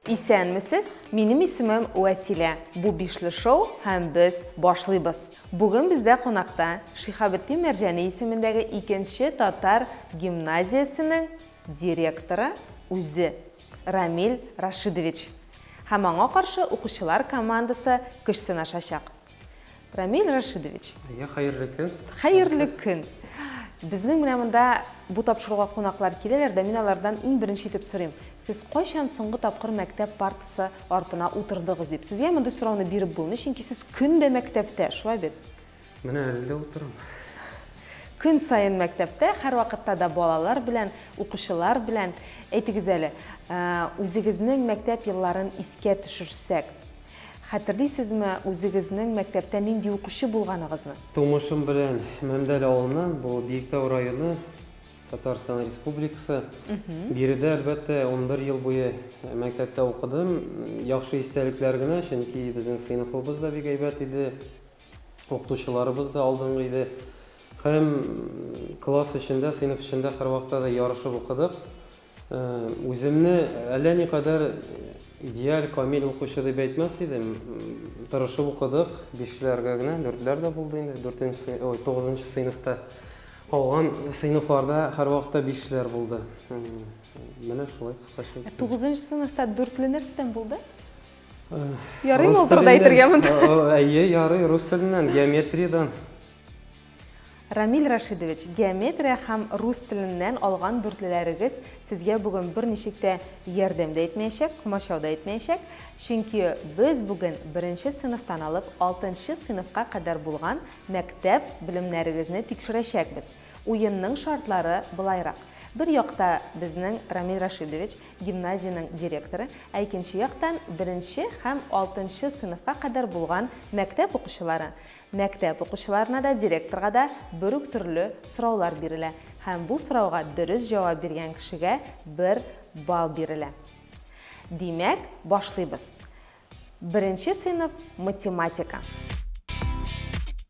Исәнмесез, минем исемем Вәсилә. Бу бишле шоу һәм без башлыйбыз. Бүген бездә кунакта Шихабетдин Мәрҗәни исемендәге икенче татар гимназиясенең директоры үзе Рамил Рашидович һәм аңа каршы укучылар командасы көч сынашачак. Рамил Рашидович. Әйе, хәерле көн. Хәерле көн. Безнең менә монда бу тапшыруга кунаклар киләләр дә мин алардан иң беренче итеп сорыйм. Сез кайчан соңгы тапкыр мәктәп партасы артына утырдыгыз дип. Сезгә мондый сорауны биреп булмый, чөнки сез көн дә мәктәптә, шулай бит? Менә әле дә утырам. Көн саен мәктәптә, һәрвакытта да балалар белән, укучылар белән. Әйтегез әле, үзегезнең мәктәп елларын искә төшерсәк, хәтерлисезме үзегезнең мәктәптә нинди укучы булганыгызны? Тумышым белән Мәмдәл авылыннан, бу Биектау районы, Татарстан Республикасы. Биредә, әлбәттә, унбер ел буе мәктәптә укыдым. Яхшы истәлекләр генә, чөнки безнең сыйныфыбыз да бик әйбәт иде. Укытучыларыбыз да алдынгы иде һәм класс эчендә, сыйныф эчендә һәрвакытта да ярышып укыдык. Үземне әллә никадәр идеаль, камил укучы дип әйтмәс идем. Тырышып укыдык, бишләргә генә, дүртләр дә булды инде, дүртенче, ой, тугызынчы сыйныфта. Калган сыйныфларда һәрвакытта бишләр булды. Менә шулай кыскача. Тугызынчы сыйныфта дүртле нәрсәдән булды? Ярый ма утырда әйтергә монда? Әйе, ярый, рус теленнән, геометриядән. Рамил Рашидович, геометрия һәм рус теленнән алган дүртлеләрегез сезгә бүген берничек тә ярдәм дә итмәячәк, комачау да итмәячәк, чөнки без бүген беренче сыйныфтан алып алтынчы сыйныфка кадәр булган мәктәп белемнәрегезне тикшерәчәкбез. Уенның шартлары былайрак. Бер якта безнең Рамил Рашидович, гимназиянең директоры, ә икенче яктан, беренче һәм алтынчы сыйныфка кадәр булган мәктәп укучылары. Мәктәп укучыларына да, директорга да бер үк төрле сораулар бирелә һәм бу сорауга дөрес җавап биргән кешегә бер балл бирелә. Димәк, башлыйбыз. Беренче сыйныф, математика.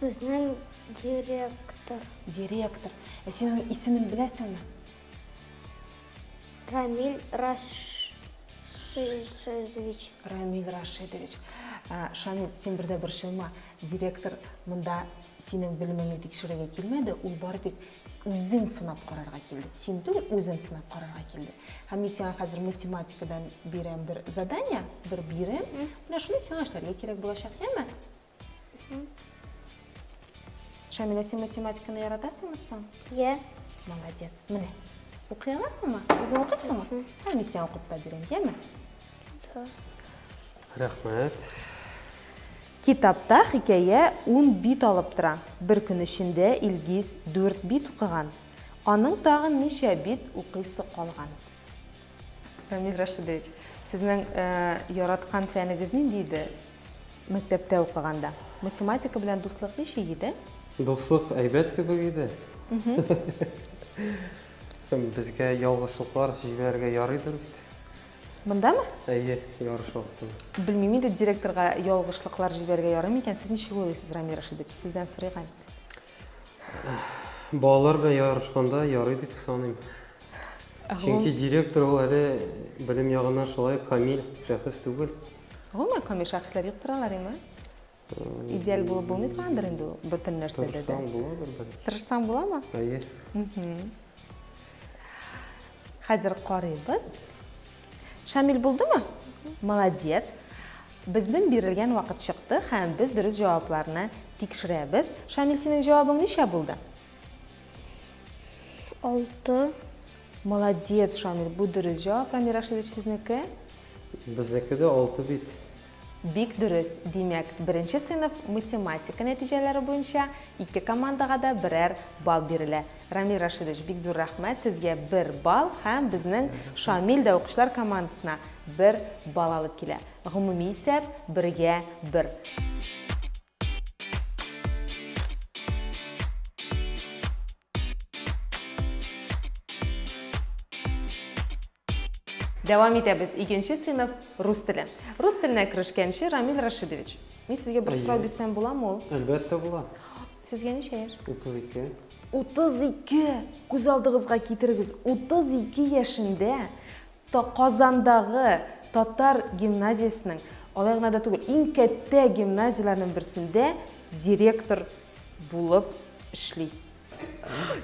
Безнең директор. Директор. Ә син аның исемен беләсеңме? Рамиль Рашидович. Рамиль Рашидович. Ә, Шамил, син бердә борчылма. Директор монда синең белемеңне тикшерергә килмәде, ул бары тик үзен сынап карарга килде. Син түгел, үзен сынап карарга килде. Һәм мин сиңа хәзер математикадан бирәм бер задание, бер бирем. Менә шуны сиңа эшләргә кирәк булачак, яме? Шәмилә, син математиканы яратасыңмы соң? Йә. Молодец. Менә. Укый аласыңмы? Үзең укыйсыңмы? Һәм мин сиңа укып та бирәм, яме? Рәхмәт. Китапта хикәя ун бит алып тора. Бер көн эчендә Илгиз дүрт бит укыган. Аның тагын ничә бит укыйсы калган? Рамил Рашидович, сезнең яраткан фәнегез нинди иде? Мәктәптә укыганда. Математика белән дуслык ничек иде? Дуслык әйбәт кебек иде. Безгә ялгышлыклар җибәрергә ярыйдыр бит. Мондамы? Әйе, ярыш вакытында. Белмим инде, директорга ялгышлыклар җибәрергә ярыймы икән. Сез ничек уйлыйсыз, Рамил Рәшидович? Сездән сорыйк әле. Балалар белән ярышканда ярый дип саныйм. Чөнки директор ул әле белем ягыннан шулай ук камил шәхес түгел. Гомумән, камил шәхесләр юк торалар име? Идеаль булып булмый торгандыр инде ул бөтен нәрсәдә дә. Тырышсаң буладыр бәлки. Тырышсаң буламы? Әйе. Хәзер карыйбыз. Шамил булдымы? Молодец! Безнең бирелгән вакыт чыкты һәм без дөрес җавапларны тикшерәбез. Шамил, синең җавабың ничә булды? Алты. Молодец, Шамил, бу дөрес җавап. Рамил Рашидович, сезнеке? Безнеке дә алты бит. Бик дөрес, димәк, беренче сыйныф математика нәтиҗәләре буенча ике командага да берәр балл бирелә. Рамил Рашидович, бик зур рәхмәт, сезгә бер балл һәм безнең Шамил дә укучылар командасына бер балл алып килә. Гомуми исәп, бергә бер. Дәвам итәбез. Икенче сыйныф рус теле. Рус теленә керешкәнче Рамил Рашидович. Мин сезгә бер сорау бирсәм буламы ул? Әлбәттә була. Сезгә ничә яшь? 32. 32! Күз алдыгызга китерегез, 32 яшендә Та Казандагы татар гимназиясенең, алай гына да түгел, иң кәттә гимназияләрнең берсендә директор булып эшли.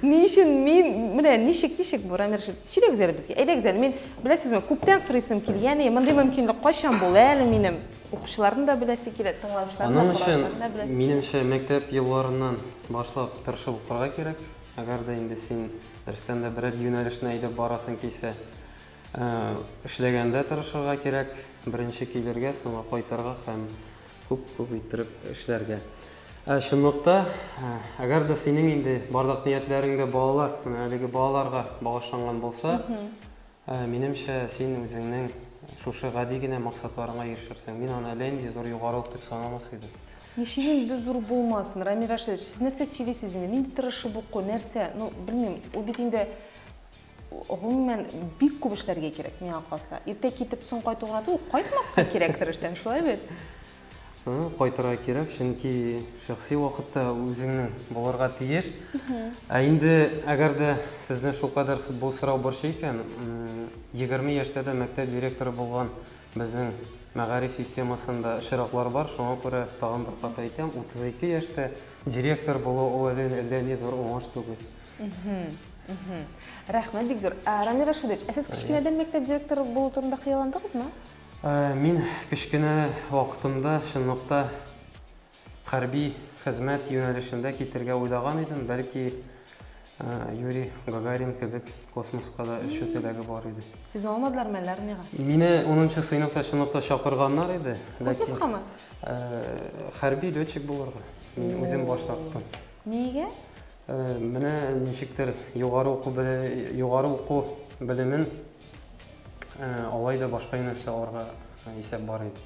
Ни өчен мин, менә ничек, ничек бу, Рамил Рәшитович, сөйләгез әле безгә, әйдәгез әле, мин, беләсезме, күптән сорыйсым килгән, и, мондый мөмкинлек кайчан булыр әле минем? Укучыларны да беләсе килә, тыңлаучыларны да, караучыларны да беләсе килә. Аның өчен, минемчә, мәктәп елларыннан башлап тырышып укырга кирәк. Әгәр дә инде син дөрестән дә берәр юнәлешне әйдәп барасың килсә, эшләгәндә тырышырга кирәк, беренче килергә, соңа кайтырга һәм күп-күп иттереп эшләргә. Ә чынлыкта, әгәр дә синең инде бардак ниятләрең дә балалар, менә әлеге балаларга багышланган булса, Минемчә, син үзеңнең шушы гади генә максатларыңа ирешерсең. Мин аны әллә нинди зур югарылык дип санамас идем. Ничек инде зур булмасын, Рамил Рашидович, сез нәрсә сөйлисез инде, нинди тырышып уку, нәрсә, ну, белмим, ул бит инде, гомумән, бик күп эшләргә кирәк, миңа калса. Иртә китеп, соң кайту гына түгел, кайтмаска кирәктер эштән, шулай бит? Кайтырга кирәк, чөнки шәхси вакыт та үзеңнең булырга тиеш. Ә инде әгәр дә сезне шулкадәр бу сорау борчый икән, егерме яшьтә дә мәктәп директоры булган безнең мәгариф системасында очраклар бар, шуңа күрә тагын бер кат әйтәм, утыз ике яшьтә директор булу ул әллә ни зур уңыш түгел. Рәхмәт бик зур. Рамил Рашидович, ә сез кечкенәдән мәктәп директоры булу турында хыялландыгызмы? Мин кечкенә вакытымда чынлыкта хәрби хезмәт юнәлешендә китергә уйлаган идем, бәлки Юрий Гагарин кебек космоска да очу теләге бар иде. Сезне алмадылармы әллә армиягә? Мине унынчы сыйныфта чынлыкта чакырганнар иде. Космоскамы? Хәрби летчик булырга. Мин үзем баш тарттым. Нигә? Менә ничектер югары уку белемен Ә, алай да башка юнәлештә аларга ә, исәп бар иде.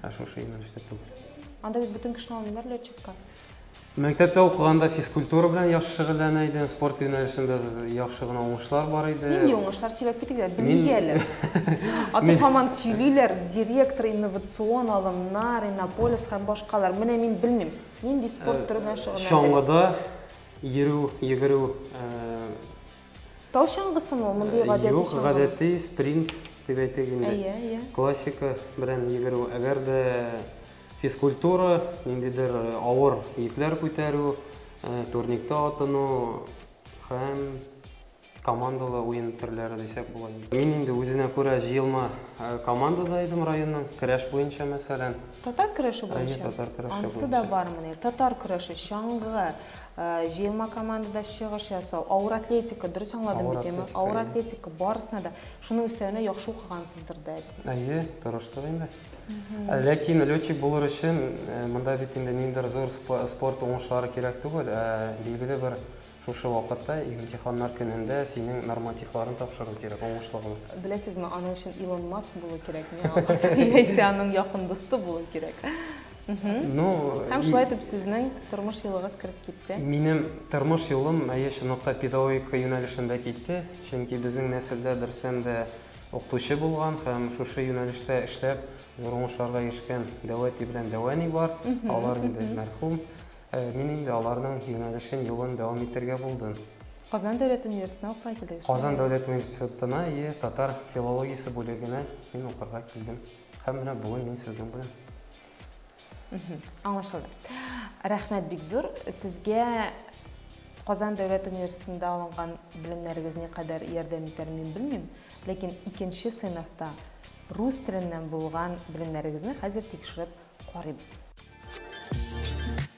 Ә шушы юнәлештә түгел. Анда бит бөтен кешене алмыйлар летчикка. Мәктәптә укыганда физкультура белән яхшы шөгыльләнә идем, спорт юнәлешендә з- яхшы гына уңышлар бар иде. Нинди уңышлар сөйләп китик дә, Мин- белмик әле. Аты Мин- һаман сөйлиләр, директор, инновацион алымнар, Иннополис һәм башкалар. Менә мин белмим, нинди спорт төре белән шөгыльләндегез? Чаңгыда йөрү, йөгерү, ә, Тау чаңгысымы ул, мондый гадәти чаңгымы? Юк, гадәти, спринт дип әйтик инде. Әйе, әйе. Классика белән йөгерү. Әгәр дә физкультура, ниндидер авыр йөкләр күтәрү, турникта атыну һәм командалы уен төрләре дисәк була. Мин инде үзенә күрә җыелма командада идем районның, көрәш буенча, мәсәлән. Татар көрәше буенча? Әйе, татар көрәше буенча. Ансы да бармыни? Татар көрәше, чаңгы, Җыелма командада чыгыш ясау, авыр атлетика, дөрес аңладым бит, яме? Авыр атлетика, барысына да. Шуның өстәвенә яхшы укыгансыздыр да әле. Әйе, тырыштык инде. Ә ләкин летчик булыр өчен э, монда бит инде ниндидер зур спорт уңышлары кирәк түгел, ә билгеле бер шушы вакытта имтиханнар көнендә синең нормативларын тапшыру кирәк, уңышлы гына. Беләсезме, аның өчен Илон Маск булу кирәкме, яисә аның якын дусты булу кирәк. Ну, Һәм шулай итеп сезнең тормыш юлыгыз кереп китте. Минем тормыш юлым әйе чынлыкта педагогика юнәлешендә китте, чөнки безнең нәселдә берсем дә укытучы булган һәм шушы юнәлештә эшләп зур уңышларга ирешкән Дәвәти белән Дәвәни бар. Алар инде мәрхүм. Э, мин инде аларның юнәлешен, юлын дәвам итергә булдым. Казан дәүләт университетына укырга килдегез. Казан дәүләт университетына, и татар филологиясе бүлегенә мин укырга килдем. Һәм менә бүген мин сезнең белән. Аңлашылды. Рәхмәт бик зур. Сезгә Казан дәүләт университетында алынган белемнәрегез никадәр ярдәм итәр мин белмим, ләкин икенче сыйныфта рус теленнән булган белемнәрегезне хәзер тикшереп карыйбыз.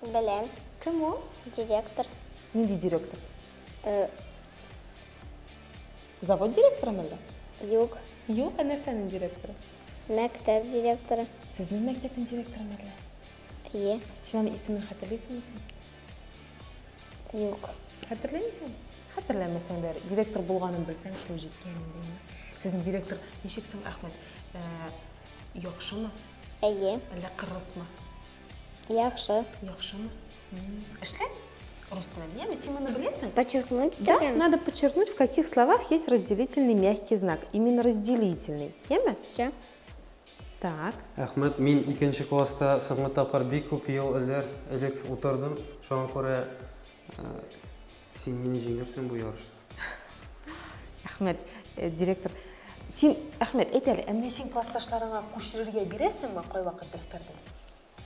Беләм. Кем ул? Директор. Нинди директор? Э... Завод директоры мәллә? Юк. Юк, ә нәрсәнең директоры? Мәктәп директоры. Сезнең мәктәпнең директоры мәллә? Ие. Син аны исемен хәтерлисеңме соң? Юк. Хәтерләмисең? Хәтерләмәсәң дә, директор булганын белсәң, шул җиткән инде. Сезнең директор ничек соң, Әхмәт? Э, яхшымы? Әйе. Әллә кырысмы? Яхшы. Яхшымы? Эшлә. Рус телен. Яме, син моны беләсең? Подчеркнуть Да, итәргәме? надо подчеркнуть, в каких словах есть разделительный мягкий знак. Именно разделительный. Яме? Все. Так. Әхмәт, мин икенче класста соңгы тапкыр бик күп ел элер, элек утырдым. Шуңа күрә э, Син мине җиңерсең бу ярышта. Әхмәт, э, директор, син, Әхмәт, әйт әле, ә менә син классташларыңа күчерергә бирәсеңме кайвакыт дәфтәрне?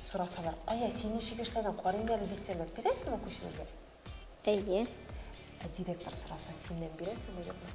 Сорасалар, кая, син ничек эшләдең, карыйм әле дисәләр, бирәсеңме күчерергә? Әйе. Ә директор сораса, синнән бирәсеңме, юкмы?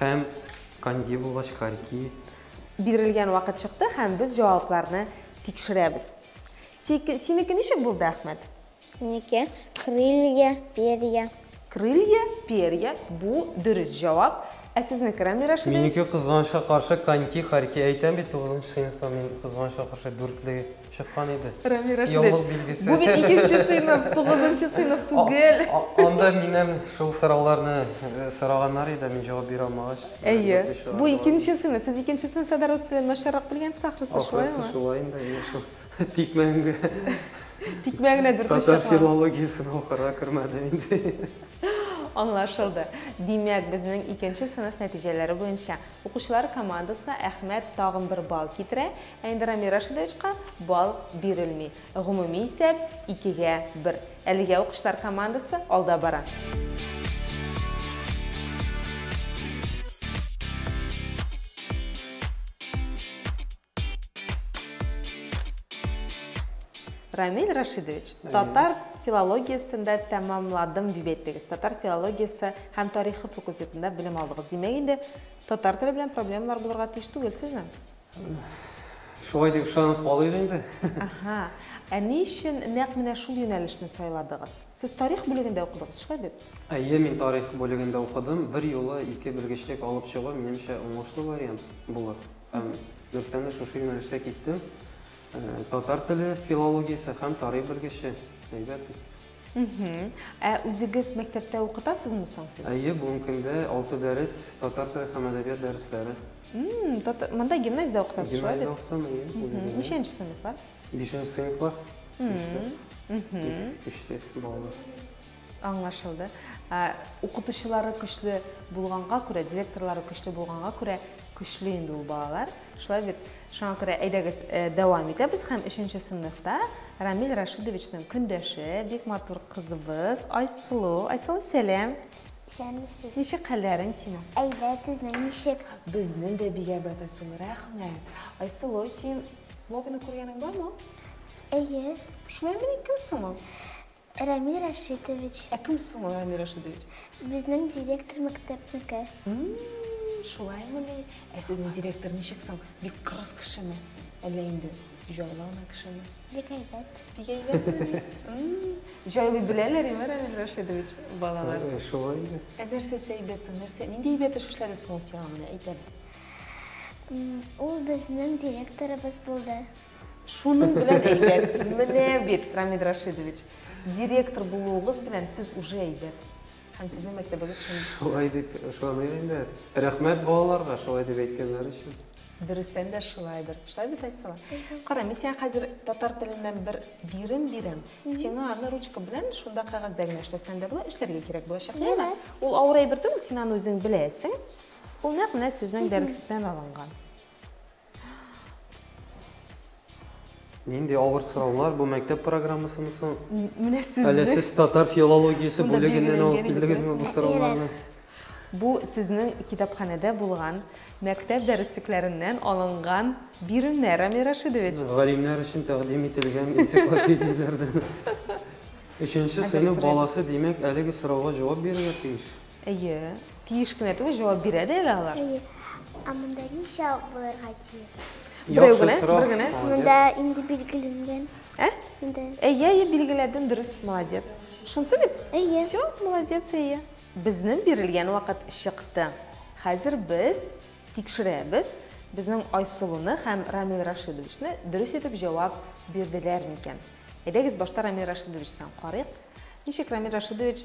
Һәм канги булгач, карги. Бирелгән вакыт чыкты һәм без җавапларны тикшерәбез. Сике, синеке ничек булды, Әхмәт? Минеке крылья, перья. Крылья, перья бу дөрес җавап. Ә сезнеке, Рамил Рашидович? Минеке кызганычка каршы канги, карги. Әйтәм бит, тугызынчы сыйныфта мин кызганычка каршы дүртле Чыккан иде. Рамил Рәшидович, бу бит икенче сыйныф, тугызынчы сыйныф түгел. Анда миннән шул сорауларны сораганнар иде, мин җавап бирә алмагач. Әйе, бу икенче сыйныф. Сез икенче сыйныфта да рус телен начаррак белгәнсез, ахрысы, шулаймы? Ахрысы шулай инде, менә шул тикмәгә. Тикмәгә дүрт очрак. Татар филологиясен укырга кермәдем инде. Аңлашылды. Димәк, безнең икенче сыйныф нәтиҗәләре буенча укучылар командасына Әхмәт тагын бер балл китерә. Ә инде Рамил Рашидовичка балл бирелми. Гомуми исәп, икегә бер. Әлегә укучылар командасы алда бара. Рамил Рашидович, татар филологиясен дә тәмамладым дип әйттегез. Татар филологиясе һәм тарихы факультетында белем алдыгыз. Димәк инде татар теле белән проблемалар булырга тиеш түгел сезнең? Шулай дип ышанып калыйк инде. Аһа. Ә ни өчен нәкъ менә шул юнәлешне сайладыгыз? Сез тарих бүлегендә укыдыгыз, шулай бит? Әйе, мин тарих бүлегендә укыдым. Берьюлы ике белгечлек алып чыгу, минемчә, уңышлы вариант булыр. Һәм дөрестән дә шушы юнәлештә киттем. Татар теле филологиясе һәм тарих белгече. Әйбәт бит. Ә үзегез мәктәптә укытасызмы соң сез? Әйе, бүгенге көндә алты дәрес, татар теле һәм әдәбият дәресләре. Монда гимназиядә укытасыз, шулай бит? Гимназиядә укытам, әйе. Ничәнче сыйныфлар? Бишенче сыйныфлар, өчтә балалар. Аңлашылды. Укытучылары көчле булганга күрә, директорлары көчле булганга күрә, көчле инде ул балалар. Шулай бит? Шуңа күрә әйдәгез дәвам итәбез һәм өченче сыйныфта Рамил Рашидовичның көндәше, бик матур кызыбыз Айсылу. Айсылу, сәлам! Исәнмесез. Ничек хәлләрең синең? Әйбәт, сезнең ничек? Безнең дә бик әйбәт, Айсылу, рәхмәт. Айсылу, син Лобины күргәнең бармы? Әйе. Шулаймыни, кем соң ул? Рәми Рәшитович. Ә кем соң ул Рәми Рәшитович? Безнең директор мәктәпнеке. Шулаймыни? Ә сезнең директор ничек соң? Бик кырыс кешеме? Әллә инде җайлы гына кешеме? Бик әйбәт. Бик әйбәтмени? Җайлый беләләриме, Рәмил Рәшитович, балалар? Шулай инде. Ә нәрсәсе әйбәт соң? Нәрсә, нинди әйбәт эш эшләде соң ул сиңа, менә әйт әле? Ул безнең директорыбыз булды. Шуның белән әйбәт. Менә бит, Рамид Рашидович, директор булуыгыз белән сез уже әйбәт. Һәм сезнең мәктәбегез шундый. Шулай дип ышаныйк инде. Рәхмәт балаларга шулай дип әйткәннәре өчен. Дөрестән дә шулайдыр. Шулай бит, Айсылу? Кара, мин сиңа хәзер татар теленнән бер бирем бирәм. Сиңа аны ручка белән шунда кәгазьдә генә эшләсәң дә була, эшләргә кирәк булачак, яме? Ул авыр әйбер түгел, син аны үзең беләсең. Ул нәкъ менә сезнең дәреслектән алынган. Нинди авыр сораулар бу мәктәп программасымы соң? Менә сезне. Әле сез татар филологиясе Шунда бүлегеннән алып билгеләнгән килдегезме бу сорауларны? Бу сезнең китапханәдә булган, мәктәп дәреслекләреннән алынган биремнәр, Амир Рашидович. Галимнәр өчен тәкъдим ителгән энциклопедияләрдән. Өченче сыйныф баласы, димәк, әлеге сорауга җавап бирергә тиеш. Әйе, тиеш кенә түгел, җавап бирә дә әле алар. Әйе. Ә монда ничә булырга тиеш? Берәү генә, бер генә. Монда инде билгеленгән. Ә? Монда. Әйе, әйе, билгеләдең, дөрес, молодец. Шунсы бит? Әйе. Все, молодец, әйе. Безнең бирелгән вакыт чыкты. Хәзер без тикшерәбез, безнең Айсылуны һәм Рамил Рашидовичны дөрес итеп җавап бирделәр микән. Әйдәгез, башта Рамил Рашидовичтан карыйк. Ничек Рамил Рашидович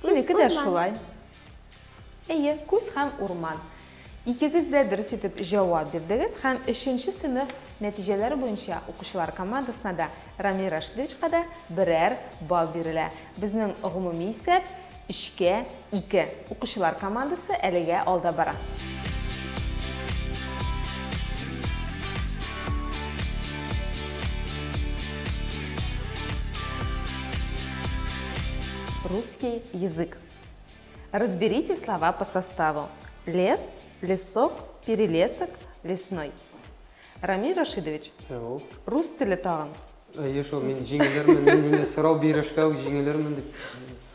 Синеке дә шулай. Әйе, күз һәм урман. Икегез дә дөрес итеп җавап бирдегез һәм өченче сыйныф нәтиҗәләре буенча укучылар командасына да, Рамил Рашидовичка да берәр балл бирелә. Безнең гомуми исәп, өчкә ике. Укучылар командасы әлегә алда бара. Русский язык. Разберите слова по составу. Лес, лесок, перелесок, лесной. Рамиль Рашидович, Ул. рус теле тагын. Әйе шул, мин җиңелермен, мин инде сорау бирәшкә үк җиңелермен дип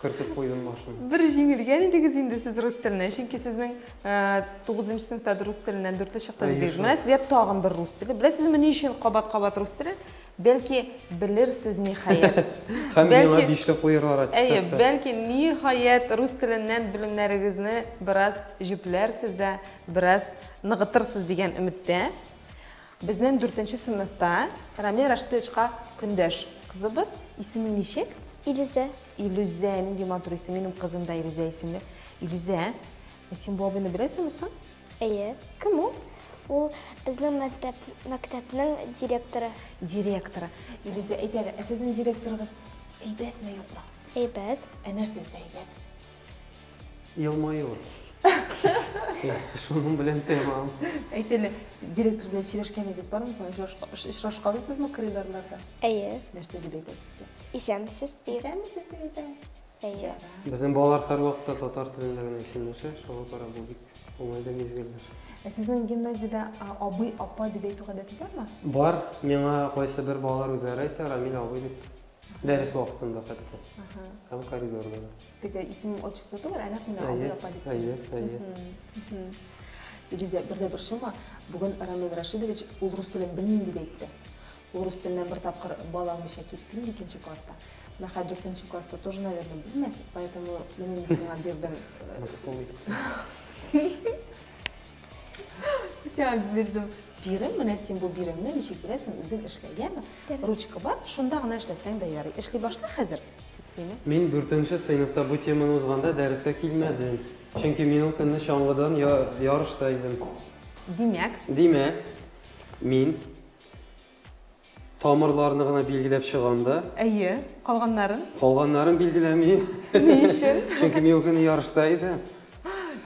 кертеп куйдым башына. Бер җиңелгән идегез инде сез рус теленә, чөнки сезнең э, тугызынчы сыйныфта да рус теленнән дүртле чыкты Әйе, дидегез. шул. Менә сезгә тагын бер рус теле. Беләсезме ни өчен кабат-кабат рус теле? Бәлки, белерсез, ниһаять. Һәм миңа бишле куерлар аттестатта. Әйе, бәлки, ниһаять, рус теленнән белемнәрегезне бераз җөпләрсез дә, бераз ныгытырсыз дигән өметтә. Безнең дүртенче сыйныфта Рамил Рашитовичка көндәш кызыбыз, исеме ничек? Илүзә. Илүзә, нинди матур исем, минем кызым да Илүзә исемле. Илүзә, син бу абыйны беләсеңме соң? Әйе. Кем ул? Ул безнең мәктәп, мәктәпнең директоры. Директоры. Илүзә, әйт әле, ә сезнең директорыгыз әйбәтме, юкмы? Әйбәт. Ә нәрсәсе әйбәт? Елмаюы. Шуның белән тәмам. Әйт әле, директор белән сөйләшкәнегез бармы соң? Очрашкансызмы коридорларда? Әйе. Нәрсә дип әйтә сезгә? Исәнмесез дип. Исәнмесез дип әйтә. Әйе. Безнең балалар һәрвакытта татар телендә генә исемләшә, шуңа күрә бу бик уңайлы мизгелләр. Ә сезнең гимназиядә абый, апа дип әйтү гадәте бармы? Бар. Миңа кайсыбер балалар үзләре әйтә, Рамил абый дип. Дәрес вакытында хәтта. Һәм коридорда да. Теге исемем, отчество түгел, ә нәкъ менә абый, апа дип. Әйе, әйе, әйе. Илүзә, бер дә борчылма, бүген Рамил Рашидович ул рус телен белмим дип әйтте. Урыс теленә бер тапкыр бал алмыйча киттем, икенче класста. Менә хәзер дүртенче класста тоже, наверное, белмәс, поэтому менә мин сиңа бирдем. Мыскыл итеп. Сиңа бирдем бирем, менә син бу биремне ничек бирәсең, үзең эшлә, яме? Ручка бар, шунда гына эшләсәң дә ярый. Эшли башла хәзер, дип сөйли. Мин дүртенче сыйныфта бу теманы узганда дәрескә килмәдем, чөнки мин ул көнне чаңгыдан ярышта идем. Димәк? Димәк, мин Тамырларны гына билгеләп чыгам да. Әйе, калганнарын? Калганнарын билгеләмим. Ни өчен? Чөнки мин ул көнне ярышта идем.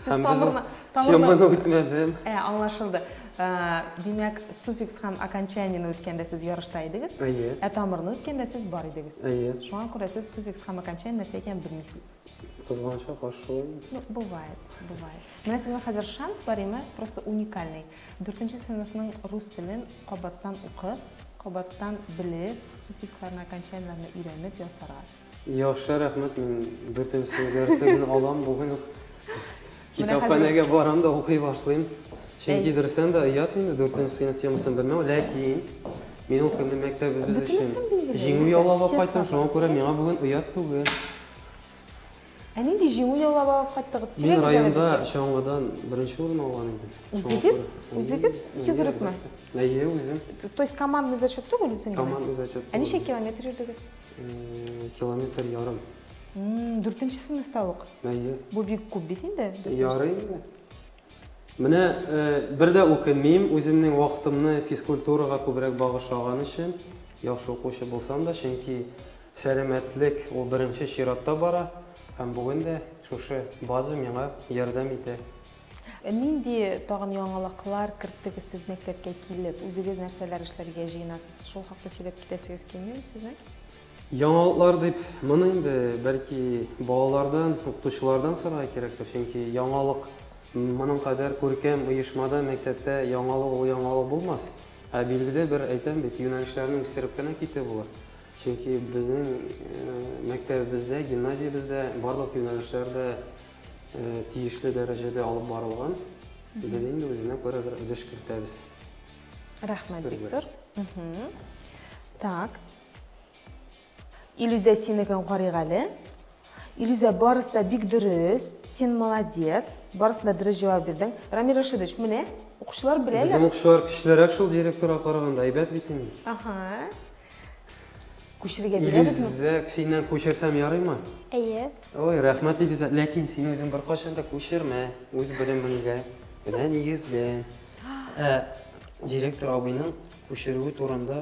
Сез Һәм без ул тамырны- тамырны- теманы үтмәдем. Ә, аңлашылды. Ә, Димәк, суффикс һәм окончаниене үткәндә сез ярышта идегез, Әйе. ә тамырны үткәндә сез бар идегез. Әйе. Шуңа күрә сез суффикс һәм окончание нәрсә икәнен белмисез. Кызганычка каршы шулаймы? Ну, бывает, бывает. Менә сезнең хәзер шанс бар име, просто уникальный. Дүртенче сыйныфның рус телен кабаттан укып, кабаттан белеп, суффиксларны, окончаниеләрне өйрәнеп ясарга. Яхшы, рәхмәт. Мин дүртенче сыйныф дәреслеген алам, бүген үк китапханәгә барам да укый башлыйм. Чөнки дөрестән дә оят инде дүртенче сыйныф темасын белмәү, ләкин мин ул көнне мәктәбебез өчен җиңү яулап алып кайттым, шуңа күрә миңа бүген оят түгел. Ә нинди җиңү яулап алып кайттыгыз? Мин Сөйләгез әле районда безгә. чаңгыдан беренче урын алган идем. Шуңа Үзегез? күрә. Үзегез? Әйе, Үзе берекме? әлбәттә. Әйе, үзем. Т То есть командный зачет түгел, үзең генә? Командный зачет Ә түгел. ничә километр йөрдегез? Э, Километр ярым. М, дүртенче сыйныфта ук? Әйе. Бу бик күп бит инде. Ярый инде. Менә бер дә үкенмим, үземнең вакытымны физкультурага күбрәк багышлаган өчен. Яхшы укучы булсам да, чөнки сәламәтлек ул беренче чиратта бара. Һәм бүген дә шушы база миңа ярдәм итә. Нинди тагын яңалыклар керттегез сез мәктәпкә килеп? Үзегез нәрсәләр эшләргә җыенасыз? Шул хакта сөйләп китәсегез килмиме сезнең? Яңалыклар дип, моны инде, бәлки, балалардан, укытучылардан сорарга кирәктер, чөнки яңалык, моның кадәр күркәм оешмада, мәктәптә яңалык ул яңалык булмас. Ә билгеле бер, әйтәм бит, юнәлешләрне үстереп кенә китү булыр. Чөнки безнең мәктәбебездә, гимназиябездә барлык юнәлешләр дә тиешле дәрәҗәдә алып барылган. Без инде үзенә күрә бер өлеш кертәбез. Рәхмәт бик зур. Так. Илүзә синекен карыйк әле. Илүзә барысы да бик дөрес, син молодец, барысын да дөрес җавап бирдең. Рамил Рашидович, менә, укучылар беләләр. Безнең укучылар көчлерәк шул директорга караганда, әйбәт бит инде. Аһа. Күчерергә бирәбезме? Илүзә, синнән күчерсәм ярыймы? Әйе. Ой, рәхмәт, Илүзә. Ләкин син үзең беркайчан да күчермә, үз белемеңгә генә нигезлән. Ә директор абыйның күчерүе турында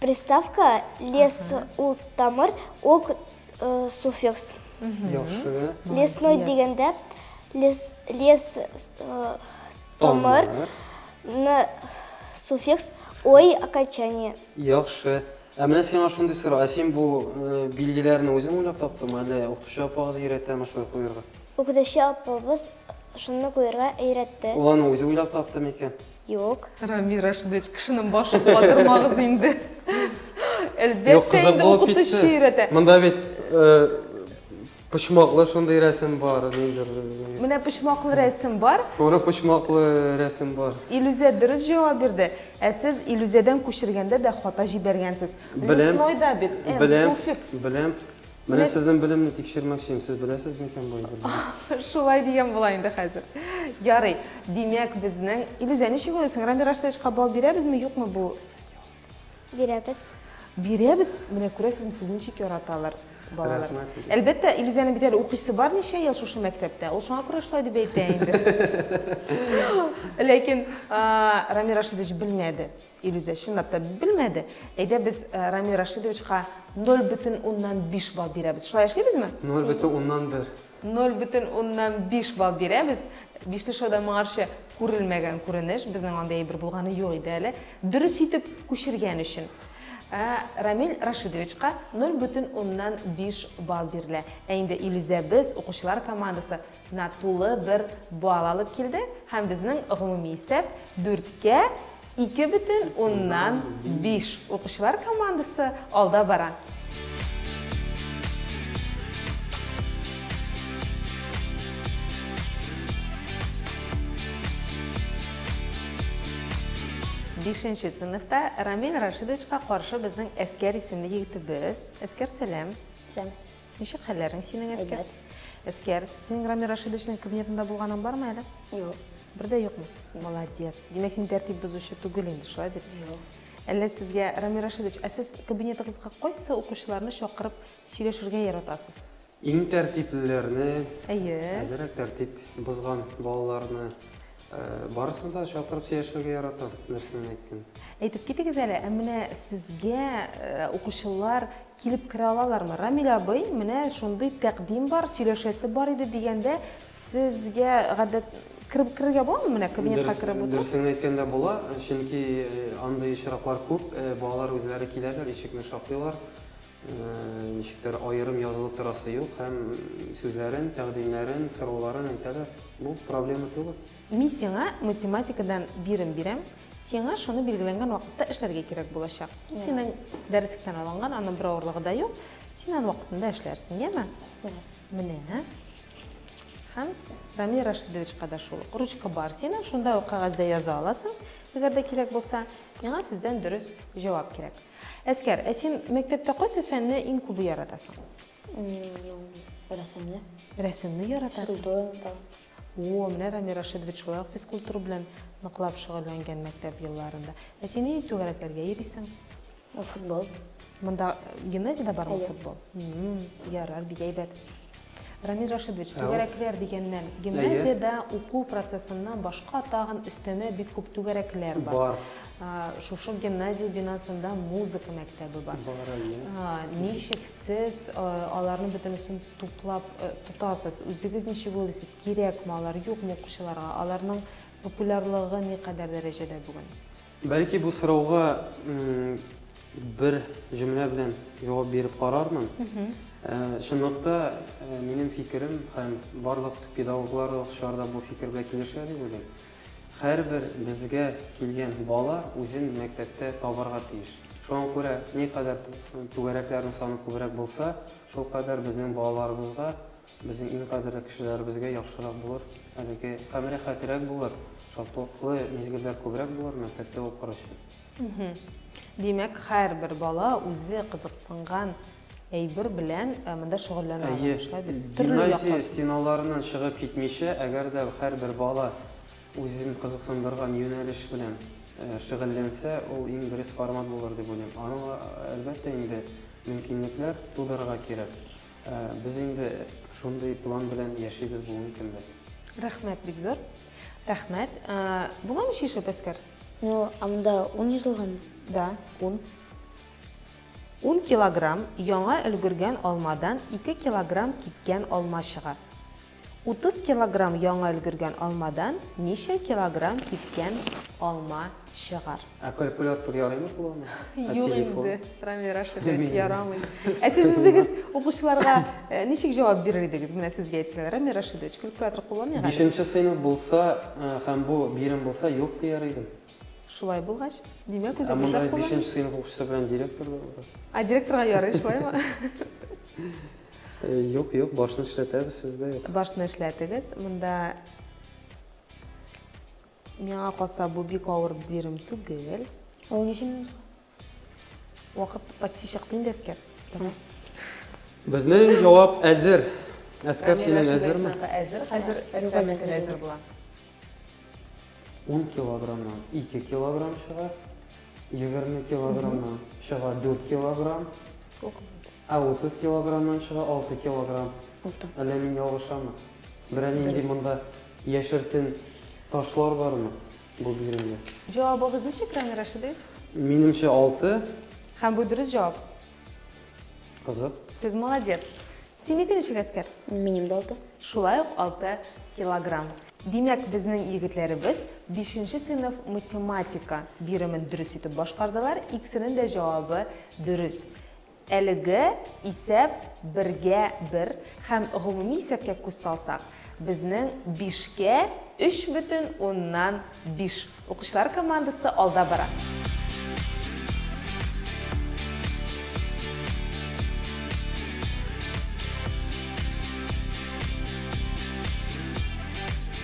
Приставка лес ул тамыр, ок суффикс. Яхшы. Лесной дигәндә лес лес тамыр, ны суффикс, ой окончание. Яхшы. Ә менә сиңа шундый сорау, ә син бу билгеләрне үзең уйлап таптыңмы, әллә укытучы апагыз өйрәтәме шулай куярга? Укытучы апабыз шуны куярга өйрәтте. Ул аны үзе уйлап тапты микән? Юк. Рамил Рашидович, кешенең башын катырмагыз инде. Әлбәттә инде укытучы өйрәтә. Монда бит почмаклы шундый рәсем бар. Менә почмаклы рәсем бар. Туры почмаклы рәсем бар. Илүзә дөрес җавап бирде. Ә сез Илүзәдән күчергәндә дә хата җибәргәнсез. Лесной да бит, суффикс. Беләм. Менә сезнең белемне тикшермәкчем, сез беләсез микән бу әйберләрне? Шулай дигән була инде хәзер. Ярый, димәк безнең... Илүзә, ничек уйлыйсың, Рами Раштовичка бал бирәбезме, юкмы бу? Бирәбез. Бирәбез, менә күрәсезме, сез ничек яраталар балалар. Рәхмәт, Илүзә. Әлбәттә, Илүзәнең бит әле укыйсы бар ничә ел шушы мәктәптә, ул шуңа күрә шулай дип әйтә инде. Ләкин Рами Рашидович белмәде. Илүзә, чынлап та, белмәде. Әйдә, без Рамил Рашидовичка ноль бөтен уннан биш балл бирәбез. Шулай эшлибезме? Ноль бөтен уннан бер. Ноль бөтен уннан биш балл бирәбез. Бишле шоу да моңарчы күрелмәгән күренеш. Безнең андый әйбер булганы юк иде әле. Дөрес итеп күчергән өчен Рамил Рашидовичка ноль бөтен уннан биш балл бирелә. Ә инде Илүзәбез, укучылар командасы, На тулы бер балл алып килде һәм безнең гомуми исәп дүрткә ике бөтен уннан биш. Укучылар командасы алда бара. Бишенче сыйныфта Рамил Рашидовичка каршы безнең Әскәр исемле егетебез. Әскәр, сәлам. Сәлам. Ничек хәлләрең синең, Әскәр? Әйбәт. Әскәр, синең Рамил Рашидовичның кабинетында булганың бармы әле? Юк. Бер дә юкмы? Молодец. Димәк, син тәртип бозучы түгел инде, шулай бит? Юк. Әллә сезгә, Рамил Рашидович, ә сез кабинетыгызга кайсы укучыларны чакырып сөйләшергә яратасыз? Иң тәртиплеләрне, Әйе. әзерәк тәртип бозган балаларны, э, барысын да чакырып сөйләшергә яратам, берсенә әйттем. Әйтеп китегез әле, ә менә сезгә э, укучылар Килеп керә алалармы? Рамил абый, менә шундый тәкъдим бар, сөйләшәсе бар иде, дигәндә, сезгә гадәт, кереп керергә буламы менә кабинетка кереп утырып? Дөресен әйткәндә була, чөнки андый очраклар күп, балалар үзләре киләләр, ишекне шакыйлар, ничектер аерым язылып торасы юк һәм сүзләрен, тәкъдимнәрен, сорауларын әйтәләр. Бу проблема түгел. Мин сиңа математикадан бирем бирәм, сиңа шуны билгеләнгән вакытта эшләргә кирәк булачак. Синең дәреслектән алынган, аның бер авырлыгы да юк. Син аны вакытында эшләрсең, яме? Яме. Менә. Һәм Рамил Рашидовичка да шул. Ручка бар синең, шунда ук кәгазьдә яза аласың, әгәр дә кирәк булса. Миңа сездән дөрес җавап кирәк. Әскәр, ә син мәктәптә кайсы фәнне иң күбе яратасың? Рәсемне. Рәсемне яратасың? Судоен там. О-о, менә Рамил Рашидович шулай ук физкультура белән ныклап шөгыльләнгән мәктәп елларында. Ә син нинди түгәрәкләргә йөрисең? Футбол. Монда гимназиядә бармы футбол? Әйе. Ярар, бик әйбәт. Рамил Рашидович, түгәрәкләр дигәннән, гимназиядә уку процессыннан башка тагын өстәмә бик күп түгәрәкләр бар. Бар. Шушы гимназия бинасында музыка мәктәбе бар. Бар, әйе. Ничек Сез аларның бөтенесен туплап тотасыз. Үзегез ничек уйлыйсыз, кирәкме алар, юкмы укучыларга? Аларның популярлыгы никадәр дәрәҗәдә бүген? Бәлки бу сорауга бер җөмлә белән җавап биреп карармын. Чынлыкта, минем фикерем һәм барлык педагоглар, укучылар да бу фикергә килешә дип уйлыйм. Һәрбер безгә килгән бала үзен мәктәптә табарга тиеш. Шуңа күрә никадәр түгәрәкләрнең саны күбрәк булса, шулкадәр безнең балаларыбызга, безнең иң кадерле кешеләребезгә яхшырак булыр, әлеге һәм рәхәтрәк булыр, шатлыклы мизгелләр күбрәк булыр мәктәптә укыр өчен. Димәк, һәрбер бала үзе кызыксынган әйбер белән монда шөгыльләнә алам. Шулай бит? Әйе, гимназия стеналарыннан чыгып китмичә, әгәр дә һәрбер бала үзен кызыксындырган юнәлеш белән шөгыльләнсә, ул иң дөрес формат булыр дип уйлыйм. Аның, әлбәттә инде, мөмкинлекләр тудырырга кирәк. Без инде шундый план белән яшибез бүгенге көндә. Рәхмәт, бик зур рәхмәт. Буламы чишеп, Әскәр? Ну, ә монда ун язылганмы? Да, ун. Ун килограмм яңа өлгергән алмадан ике килограмм кипкән алма чыга. Утыз килограмм яңа өлгергән алмадан ничә килограмм кипкән алма чыгар? Ә калькулятор ярыймы куллану? Юк инде, Рамил Рашидович, ярамый. Ә сез үзегез укучыларга ничек җавап бирер идегез? Менә сезгә әйтсәләр, Рамил Рашидович, калькулятор кулланыйк әле. Бишенче сыйныф булса һәм бу бирем булса, юк дияр идем. Шулай булгач, димәк, Ә үзебез дә монда кулланабыз. бишенче сыйныф укучысы белән директор да бар. А директорга ярый, шулаймы? Э, Юк, юк, башны эшләтәбез, сездә юк. Башны эшләтегез. Монда миңа калса, бу бик авыр бирем түгел. Ул ничә минутка? Вакыт почти чыкты инде, Әскәр. Безнең җавап әзер. Әскәр, синең әзерме? Әзер, хәзер Әскәр менә әзер була. 10 килограммнан 2 килограмм чыга, 20 килограммнан чыга 4 килограмм. Сколько? Ә 30 килограммнан чыга 6 килограмм. Алты. Әллә мин ялгышамы? Берәр нинди монда яшертен ташлар бармы? Бу бирелде. Җавабыгыз ничек, Рамил Рашидович? Минемчә, алты. Һәм бу дөрес җавап. Кызык. Сез молодец. Синеке ничек, Әскәр? Минем дә алты. Шулай ук алты килограмм. Димәк, безнең егетләребез бишенче сыйныф математика биремен дөрес итеп башкардылар, икесенең дә җавабы дөрес. Әлеге исәп бергә бер һәм гомуми исәпкә күз салсак, безнең бишкә өч бөтен уннан биш укучылар командасы алда бара.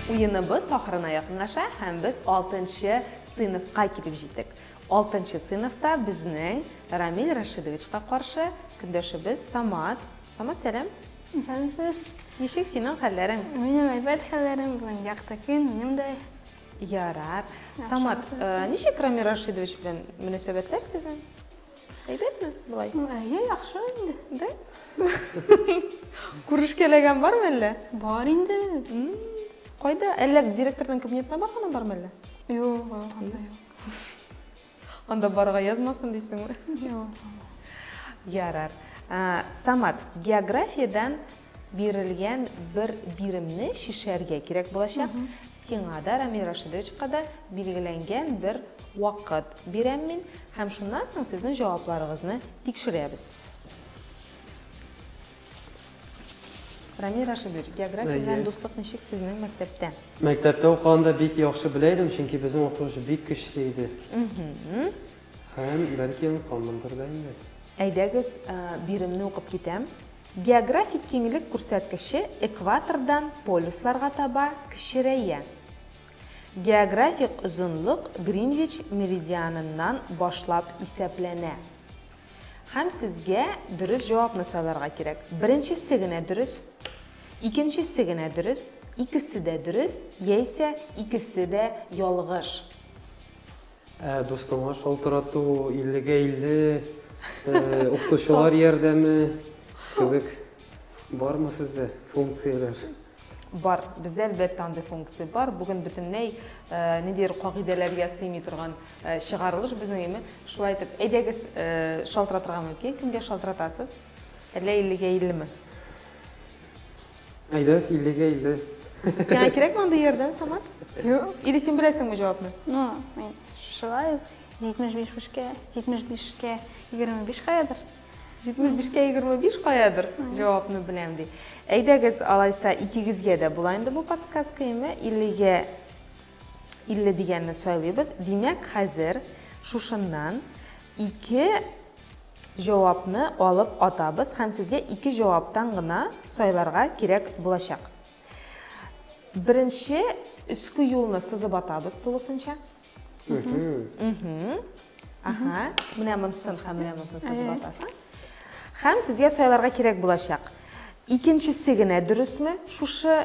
Уеныбыз ахырына якынлаша һәм без алтынчы сыйныфка килеп җиттек. Алтынчы сыйныфта безнең Рамил Рашидовичка каршы көндәшебез Самат. Самат, сәлам! Сәлам сез! Ничек синең хәлләрең? Минем әйбәт хәлләрем, бүген якты көн, минем дә. Ярар. Самат, ничек Рамил Рашидович белән мөнәсәбәтләр сезнең? Әйбәтме болай? Әйе, яхшы инде. Да? Күрешкәләгән бармы әллә? Бар инде. Кайда? Әллә директорның кабинетына барганы бармы әллә? Юк, барган да юк. Анда барга язмасын дисеңме? Юк. Ярар. Самат, географиядән бирелгән бер биремне чишәргә кирәк булачак. Сиңа да, Рамил Рашидовичка да билгеләнгән бер вакыт бирәм мин. Һәм шуннан соң сезнең җавапларыгызны тикшерәбез. Рамил Рашидович, география белән дуслык ничек сезнең мәктәптә? Мәктәптә укыганда бик яхшы белә идем, чөнки безнең укытучы бик көчле иде. Һәм, бәлки, онытканмындыр да инде. Әйдәгез, биремне укып китәм. Географик киңлек күрсәткече экватордан полюсларга таба кечерәя. Географик озынлык Гринвич меридианыннан башлап исәпләнә. Һәм сезгә дөрес җавапны сайларга кирәк. Беренчесе генә дөрес, икенчесе генә дөрес, икесе дә дөрес, яисә икесе дә ялгыш. Ә дустыңа шалтырату, иллегә илле, укытучылар ярдәме кебек бармы сездә функцияләр? Бар, бездә әлбәттә андый функция бар. Бүген бөтенләй ниндидер кагыйдәләргә сыймый торган чыгарылыш безнең име. Шулай итеп, әйдәгез, шалтыратырга мөмкин. Кемгә шалтыратасыз? Әллә 50-гә 50-ме? Әйдәгез, 50-гә 50. Сиңа кирәкме андый ярдәм, Самат? Юк. Или син беләсеңме җавапны? Ну, мин шулай ук 75 бишкә, 75 кә 25 каядыр. Җитмеш бишкә егерме биш каядыр? Җавапны беләм, ди. Әйдәгез, алайса, икегезгә дә була инде бу подсказка, әйме? Иллегә илле дигәнне сайлыйбыз. Димәк, хәзер шушыннан ике җавапны алып атабыз һәм сезгә ике җаваптан гына сайларга кирәк булачак. Беренче өске юлны сызып атабыз тулысынча. Аха, менә монсын һәм менә монсын сызып атасың. Һәм сезгә сайларга кирәк булачак. Икенчесе генә дөресме шушы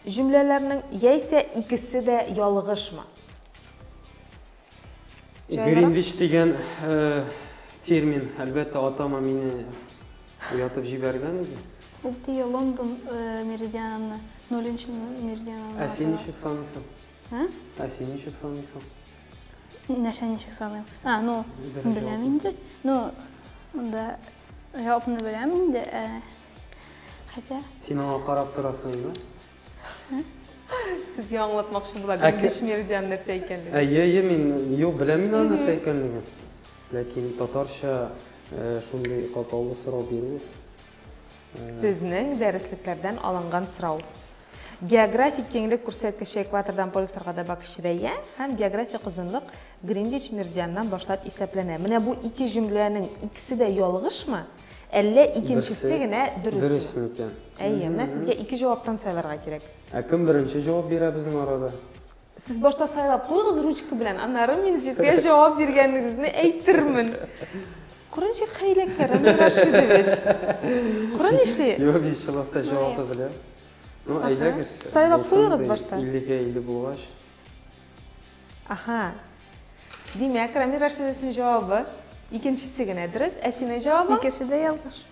җөмләләрнең, яисә икесе дә ялгышмы? Гринвич дигән э, термин, әлбәттә, атама мине уятып җибәргән иде. Ул тия Лондон э, меридианы, нолынчы меридианы. Ә син ничек саныйсың? Ә? Ә син ничек саныйсың? Нәрсә ничек саныйм? А, ну, беләм инде. Ну, да, җавапны беләм инде. Ә, хәтә. Син аңа карап торасың инде. Сез яңлатмакчы була, бик дешмердиан нәрсә икәнлеген. Әйе, әйе, мин юк, беләм мин аны нәрсә икәнлеген. Ләкин татарча шундый катлаулы сорау бирү Сезнең дәреслекләрдән алынган сорау. Географик киңлек күрсәткече экватордан полюсларга таба кечерәя һәм географик озынлык Гринвич меридианнан башлап исәпләнә. Менә бу ике җөмләнең икесе дә ялгышмы, әллә икенчесе генә дөресме? Дөрес микән? Әйе, менә сезгә ике җаваптан сайларга кирәк. Ә кем беренче җавап бирә безнең арада? Сез башта сайлап куегыз ручка белән, аннары мин җитә җавап биргәнегезне әйтермен. Кора ничек хәйләкәр, Рамил Рашидович. Кора нишли. Юк, без чылакта җавап та белә. Ну, әйдәгез. Сайлап куегыз башта. 50-гә 50 булгач. Аха. Димәк, Рамил Рашидович җавабы икенчесе генә дөрес, ә синең җавабың? Икесе дә ялгыш.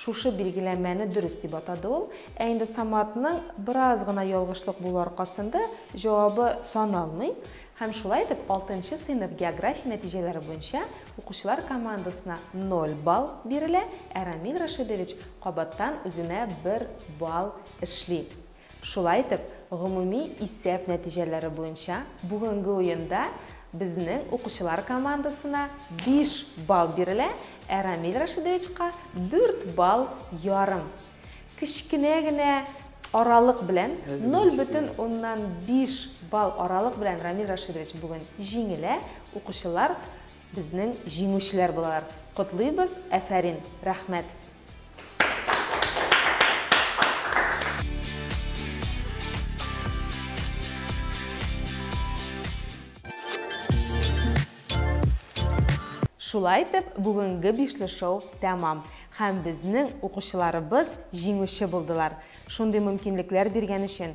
Шушы билгеләмәне дөрес дип атады ул. Ә инде Саматның бераз гына ялгышлык булу аркасында җавабы саналмый һәм шулай итеп алтынчы сыйныф география нәтиҗәләре буенча укучылар командасына ноль балл бирелә, ә Рамил Рашидович кабаттан үзенә бер балл эшли. Шулай итеп, гомуми исәп нәтиҗәләре буенча бүгенге уенда безнең укучылар командасына биш балл бирелә, ә Рамил Рашидовичка, дүрт балл ярым. Кечкенә генә аралык белән, ноль бөтен уннан биш балл аралык белән Рамил Рашидович бүген җиңелә, укучылар безнең җиңүчеләр булалар. Котлыйбыз, әфәрин, рәхмәт! Шулай итеп, бүгенге бишле шоу тәмам һәм безнең укучыларыбыз җиңүче булдылар. Шундый мөмкинлекләр биргән өчен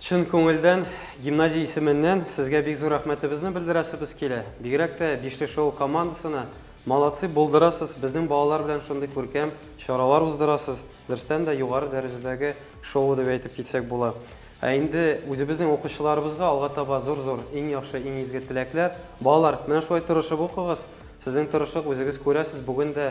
Чын күңелдән гимназия исеменнән сезгә бик зур рәхмәтебезне белдерәсебез килә. Бигрәк тә Бишле шоу командасына молодцы, булдырасыз, безнең балалар белән шундый күркәм чаралар уздырасыз, дөрестән дә югары дәрәҗәдәге шоу дип әйтеп китсәк була. Ә инде үзебезнең укучыларыбызга алга таба зур-зур, иң яхшы, иң изге теләкләр. Балалар, менә шулай тырышып укыгыз, сезнең тырышлык үзегез күрәсез, бүген дә